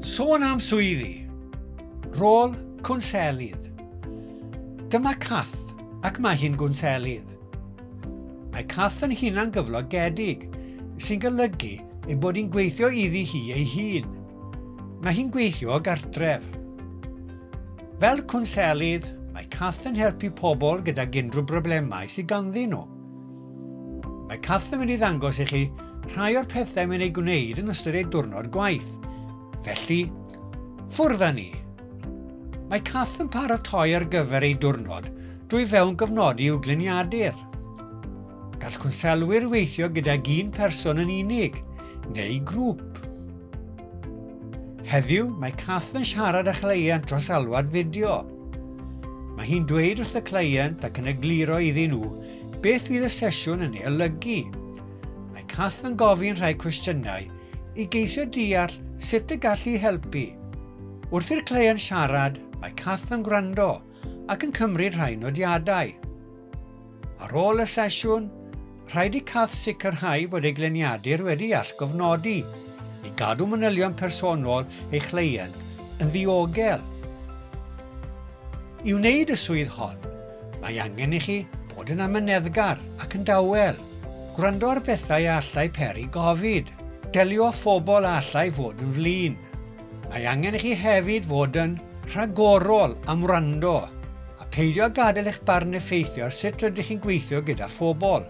Sôn am swyddi. Rôl cwnselydd. Dyma Cath ac mae hi'n gwnselydd. Mae Cath yn hunan gyflogedig, sy'n golygu ei bod hi'n gweithio iddi hi ei hun. Mae hi'n gweithio o gartref. Fel cwnselydd, mae Cath yn helpu pobl gydag unrhyw broblemau sydd ganddyn nhw. Mae Kath yn mynd i ddangos i chi rhai o'r pethau mae'n ei gwneud yn ystod ei diwrnod gwaith. Felly, ffwrdd â ni! Mae Kath yn paratoi ar gyfer ei diwrnod drwy fewn gofnodi i'w gliniadur. Gall cwnselwyr weithio gydag un person yn unig neu grŵp. Heddiw, mae Kath yn siarad â chleient dros alwad fideo. Mae hi'n dweud wrth y cleient ac yn egluro iddyn nhw Beth fydd y sesiwn yn ei olygu? Mae Kath yn gofyn rhai cwestiynau i geisio deall sut y gallu helpu. Wrth i'r cleiant siarad, mae Kath yn gwrando ac yn cymryd rhai nodiadau. Ar ôl y sesiwn, rhaid i Kath sicrhau bod ei gleniadur wedi allgofnodi i gadw manylion personol ei chleiant yn ddiogel. I wneud y swydd hon, Mae angen i chi fod yn amyneddgar ac yn dawel. Gwrando ar bethau a allai peri gofid. Delio â phobl a allai fod yn flin. Mae angen i chi hefyd fod yn rhagorol am wrando a pheidio â gadael eich barn effeithio ar sut rydych chi'n gweithio gyda phobl.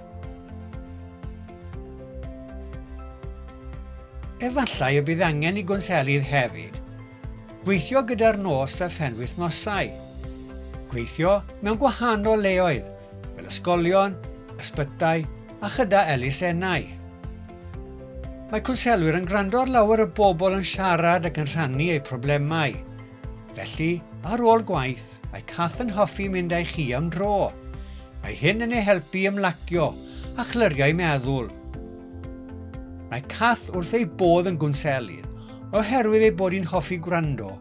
Efallai y bydd angen i gwnselydd hefyd Gweithio gyda'r nos a phenwythnosau. Gweithio mewn gwahanol leoedd, fel ysgolion, ysbytai a chyda elusennau. Mae cwnselwyr yn gwrando ar lawer o bobl yn siarad ac yn rhannu eu problemau. Felly, ar ôl gwaith, mae Kath yn hoffi mynd â'i chi am dro. Mae hyn yn ei helpu ymlacio a chlyriau meddwl. Mae Kath wrth ei bodd yn gwnselydd, oherwydd ei bod hi'n hoffi gwrando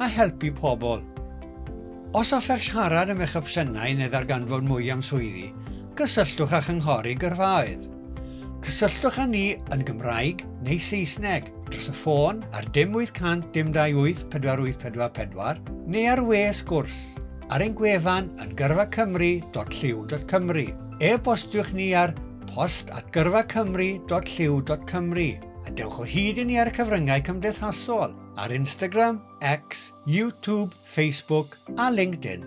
a helpu pobl. Os offer siarad am eich opsiynau neu ddarganfod mwy am swyddi, cysylltwch â Chynghorydd Gyrfaoedd. Cysylltwch â ni yn Gymraeg neu Saesneg dros y ffôn ar dim 800 dim 28 4844 neu ar we sgwrs ar ein gwefan yn gyrfacymru.llyw.cymru. E-bostiwch ni ar post at gyrfacymru.llyw.cymru. A dewch o hyd i ni ar y cyfryngau cymdeithasol, ar Instagram, X, YouTube, Facebook a LinkedIn.